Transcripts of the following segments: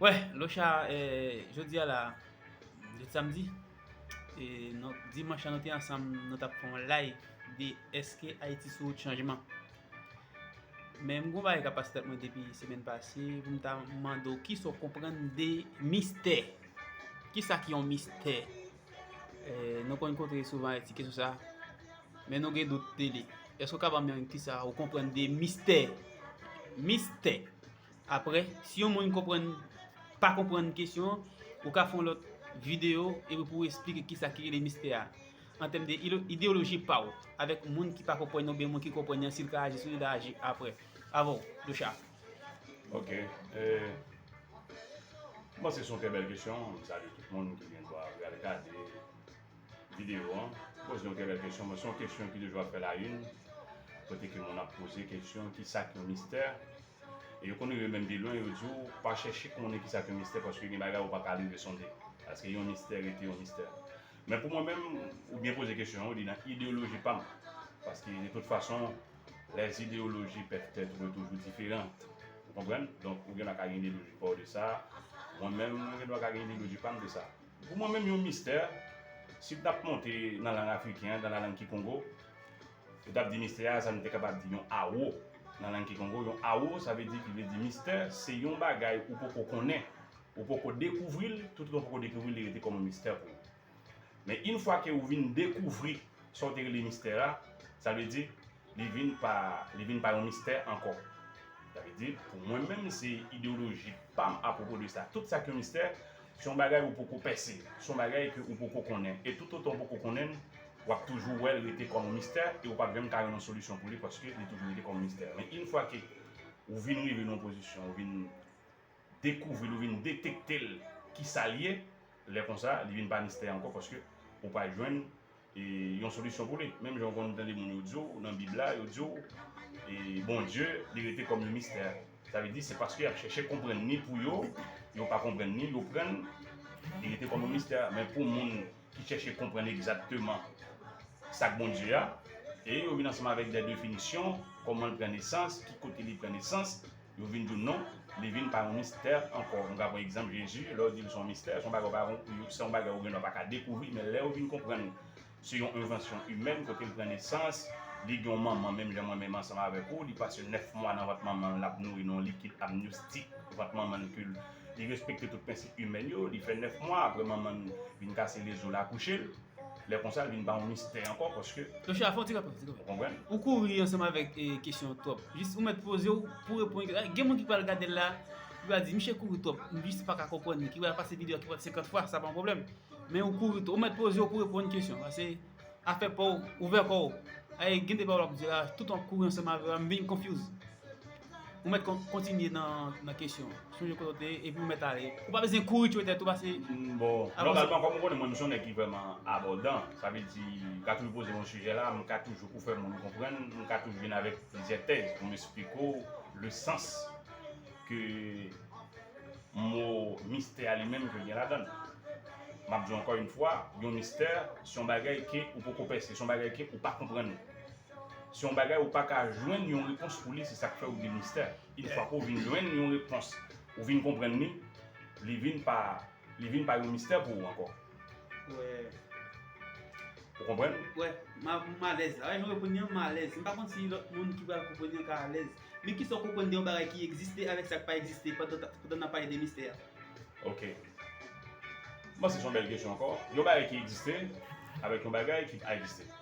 Wè locha jodi a la jodi samdi e non dimanch la nou te ansanm nou tap fè yon live de eske Ayiti sou wout chanjman men m gon bagay kap pase tèt mwen depi semèn pase pou m ta mande w kisa w konprann de mistè kisa ki yon mistè nou konn kontre souvan Ayiti kesyon sa men nou gen dout de li eske w ka banm yon kisa ou konprann de mistè mistè Aprè, si yon moun konprann pa konprann kesyon an, ou ka fè yon lòt videyo epi pou ou esplike kisa ki rele mistè a an tèm de ideyoloji pa ou avèk moun ki pa konprann oubyen moun ki konprann an si l ka aji sou li la aji aprè avè w Docha. Ok, mwen panse se yon trè bèl kesyon, m salye tout moun ki gen dwa al gade. Videyo an, poze yon kèlè kesyon, men se yon kesyon ki toujou ap fè la yn, kote ke moun ap poze kesyon ki sa k yon mistè, e yo konn rive menm pi lwen yo di w pa chèche konnen ki sa k yon mistè paske gen bagay ou pa ka rive sonde, paske yon mistè rete yon mistè. Men pou mwen menm, ou byen poze kesyon an, ou li nan ideyoloji pa m, paske de tout fason les idéologies peuvent être toujou diferant, ou konprann, donk ou gen dwa ka gen ideyoloji pa w de sa, mwen menm mwen gen dwa ka gen ideyoloji pa m de sa. Pou mwen menm yon mistè, si l t ap monte nan lang afriken an, nan lalang kikongo, yo t ap di mistè a sa nou te kapab di yon awo nan lang kikongo. Yon awo sa vle di ki vle di mistè se yon bagay ou poko konnen, ou poko dekouvri l, toutotan ou poko dekouvri l li rete kòm yon mistè pou ou. Men infwa ke ou vin dekouvri sa ou te rele mistè a, sa vle di Li vin pa li vin pa yon mistè ankò. Sa vle di, pou mwen menm se ideyoloji pa m apwopo de sa. Tout sa k yon mistè, se yon bagay ou poko pèse, se yon bagay ke ou poko konnen. E toutotan ou poko konnen l, w ap toujou wè l rete kòm yon mistè e ou p ap janm ka jwenn yon solisyon pou li paske li toujou rete kòm yon mistè. Men in fwa ke ou vin rive nan yon pozisyon, ou vin dekouvri l, ou vin detekte l kisa l ye, lè konsa li vin pa mistè ankò paske ou pral jwenn yon solisyon pou li. Menm jan ou konn tande moun yo di w nan Bib la, yo di w Bondye li rete kòm yon mistè. Sa vle di se paske y ap chèche konprann ni pou yo, yo pa konprann ni yo prann li rete kòm yon mistè. Men pou moun ki chèche konprann egzakteman sa k Bondye a, e yo vin ansanm avèk dè definisyon, kòman l pran nesans, ki kote li pran nesans. Yo vin di w non, li vin pa yon mistè ankò. Nou ka pran egzanp Jezi, lè w di l se yon mistè, se yon bagay w pa konprann, se yon bagay ou gendwa pa ka dekouvri, men lè ou vin konprann se yon envansyon imèn kote l pran nesans, li gen yon manman menm jan mwen menm ansanm avèk ou, li pase 9 mwa nan vant manman l l ap nouri nan yon likid amnyostik vant manman l ke li respekte tout prensip imèn yo, li fè 9 mwa apre manman l vin kase lezo l akouche l. Lè konsa l vin ba yon mistè ankò paske. Tosha fè yon ti rapèl tou. Ou konprann? Ou kouri ansanm avèk kesyon twòp. Jis ou mèt poze w pou w reponn. Gen moun ki pral gade l la, ki pral di miche kouri twòp. M jis pa ka konprann li. Ki pral pase videyo a ki pa t 50 fwa, sa pa yon pwoblèm. Men ou kouri twòp. Ou mèt poze w pou w reponn kesyon. Pase afè pa w, ouvè kò w. Gen de pawòl w ap di la, tout w ap kouri ansanm avè m, m vin konfyouz. Ou mèt kontinye nan kesyon an. Sonje kote ou te ye, epi ou mèt ale. Ou pa bezwen kouri tchwe tèt ou pase. Bon, nòmalman kòm ou konnen mwen m son nèg ki vrèman abòdan, sa vle di m ka toujou poze yon sijè la, m ka toujou pou fè moun konprann, m ka toujou vin avèk plizyè tèz pou m esplike ou le sans ke mo mistè a li menm ke l gen ladan l. M ap di w ankò yon fwa, yon mistè se yon bagay ke ou poko pèse, se yon bagay ke ou pa konprann. Se yon bagay ou paka jwenn yon repons pou li se sak fè ou di mistè. Yn fwa ke w vin jwenn yon repons, ou vin konprann li, li vin pa li vin pa yon mistè pou ou ankò. Wè. Ou konprann? Wè. M a m alèz la. Wè nou reponn yon m alèz. M pa konn si lòt moun ki pral konprann yon ka alèz. Men kisa ou konprann de yon bagay ki egziste avèk sa k pa egziste pandan ta pandan n ap pale de mistè a? Ok. M panse se yon bèl kesyon ankò. Yon bagay ki egziste avèk yon bagay ki pa egziste.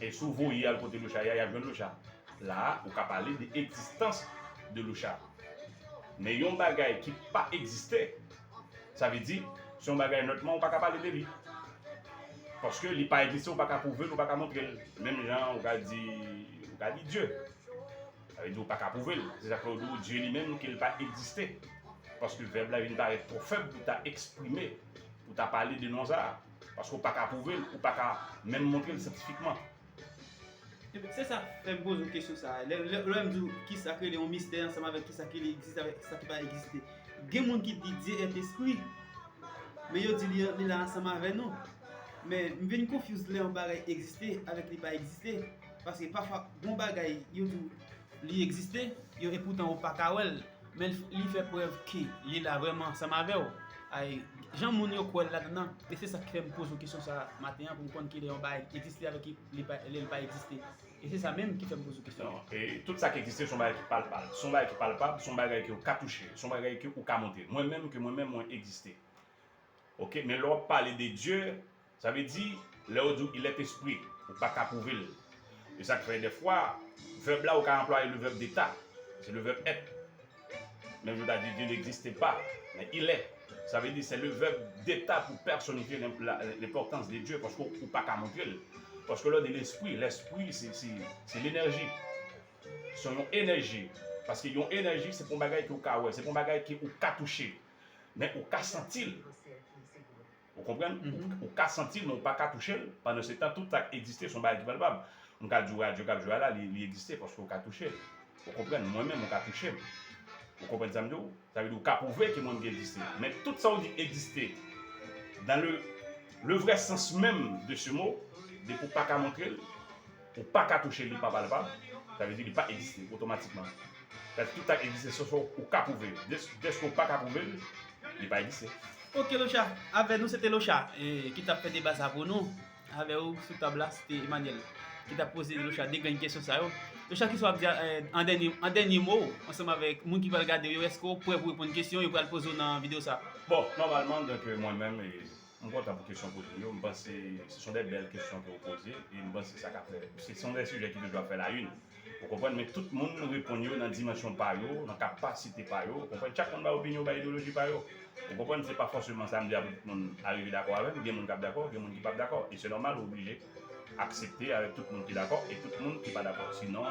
E si w voye al kote loucha ye a, y ap jwenn loucha. La a, ou ka pale de egzistans de loucha. Men yon bagay ki pa egziste, sa vle di, se yon bagay nòtman ou pa ka pale de li. Paske li pa egziste, ou pa ka pwouve l, ou pa ka montre l. Menm jan ou ka di, ou ka di Dye. Sa vle di ou pa ka pwouve l. Se sa k fè ou di ou Dye li menm ke l pa egziste. Paske vèb la vin parèt twò fèb pou ta eksprime, pou ta pale de non sa a. Paske ou pa ka pwouve l, ou pa ka menm montre l syantifikman. Ebyen, se sa k fè m poze w kesyon sa a. Lè m di w ki sa k rele yon mistè ansanm avèk ki sa ki egziste avèk ki sa ki pa egziste. Gen moun ki di Dye èt espri, men yo di li la ansanm avè nou. Men, m vin konfyouz lè yon bagay egziste avèk li pa egziste. Paske pafwa gen yon bagay yo di w li egziste, yo epoutan ou pa ka wè l. Men li fè prèv ke li la vrèman ansanm avè w. Ay, jan moun yo kwè l ladan nan, e se sa k fè m poze w kesyon sa a maten an pou m konn kilè yon bagay egziste avèk lè l pa egziste. E se sa menm ki fè m poze w kesyon an. Non. E tout sa k egziste se yon bagay ki palpal. Se yon bagay ki palpab, se yon bagay ke ou ka touche, se yon bagay ke ou ka montre. Mwen menm, ke mwen menm mwen egziste. Ok, men lè w ap pale de Dye, Sa vle di, lè yo di w il est esprit, ou pa ka pwouve l. E sa k fè dèfwa, vèb la ou ka anplwaye le vèb deta, se le vèb èt. Menm jan w ta di Dieu n'existe pas, men il est. Sa vle di se le vèb deta pou pèsonifye lenpòtans de Dieu paske ou pa ka montre l. Paske lè w di lespri, lèspri se lenèji. Se yon enèji. Paske yon enèji se pa yon bagay ke ou ka wè, se pa yon bagay ke ou ka touche. Men ou ka santi l. Ou konprann? Ou ka santi l men ou pa ka touche l, pandansetan tout sa k egziste se yon bagay ki palpab. M ka di w radyo k ap jwe a la li egziste paske ou ka touche l. Ou konprann? Mwen menm ou ka touche m. Ou konprann sa m di w? Sa vle di ou ka pwouve ke moun ki egziste. Men tout sa ou di egziste dan le le vrè sans menm de se mo depi ou pa ka montre l, Ou pa ka touche li pa palpab, sa vle di li pa egziste otomatikman. Sa vle di tout sa k egziste se sa ou ka pwouve l. Dèske ou pa ka pwouve l, li pa egziste. Ok Locha, avè nou se te Locha ki t ap fè deba sa pou nou. Avè ou sou tab la se te Emmanuel ki t ap poze Locha de grenn kesyon sa yo. Locha kisa w ap di an dènye mo w ansanm avèk moun ki pral gade w yo? Èske w prè pou w reponn kesyon yo pral poze w nan videyo sa? Bon, nòmalman, dèke mwen menm e M kontan pou kesyon w poze yo, m panse se son dè bèl kesyon ke w poze e m panse sa ka fè, se son dè sijè ki toujou ap fè la yn ou konprann men tout moun reponn yo nan dimansyon pa yo, nan kapasite pa yo ou konprann chak moun bay opinyon, bay ideyoloji pa yo ou konprann se pa fòseman sa m di a pou tout moun arive dakò avè m, gen moun k ap dakò, gen moun ki p ap dakò e se nòmal ou oblije. aksepte avèk tout moun ki dakò e tout moun ki pa dakò si non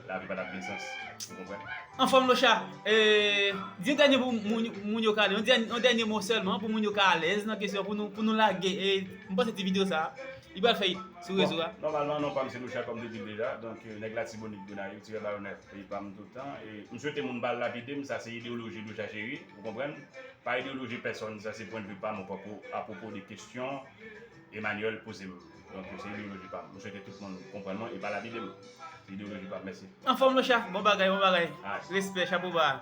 lavi pa tap gen sans ou konprann. Anfòm locha, di yon dènye mo pou moun yo ka ale, yon dènye mo sèlman pou moun yo ka alèz nan kesyon pou nou lage m panse ti video sa li pral fè it sou rezo a. Nòmalman non pam se Locha kòm te dil deja donk nèg latibonit Gonayiv ti Bayonet li pam tout tan e m swete moun pa lapidem sa se ideoloji Locha Cheri ou konprann pa ideoloji pèsòn sa se pwendvi pam apwopo de kesyon Emmanuel poze m Donk yo se ideoloji pa m M swete tout moun konprann mwen e pa lapide m Se ideoloji pa m Mèsi. Anfòm locha bon bagay bon bagay respè chapo ba.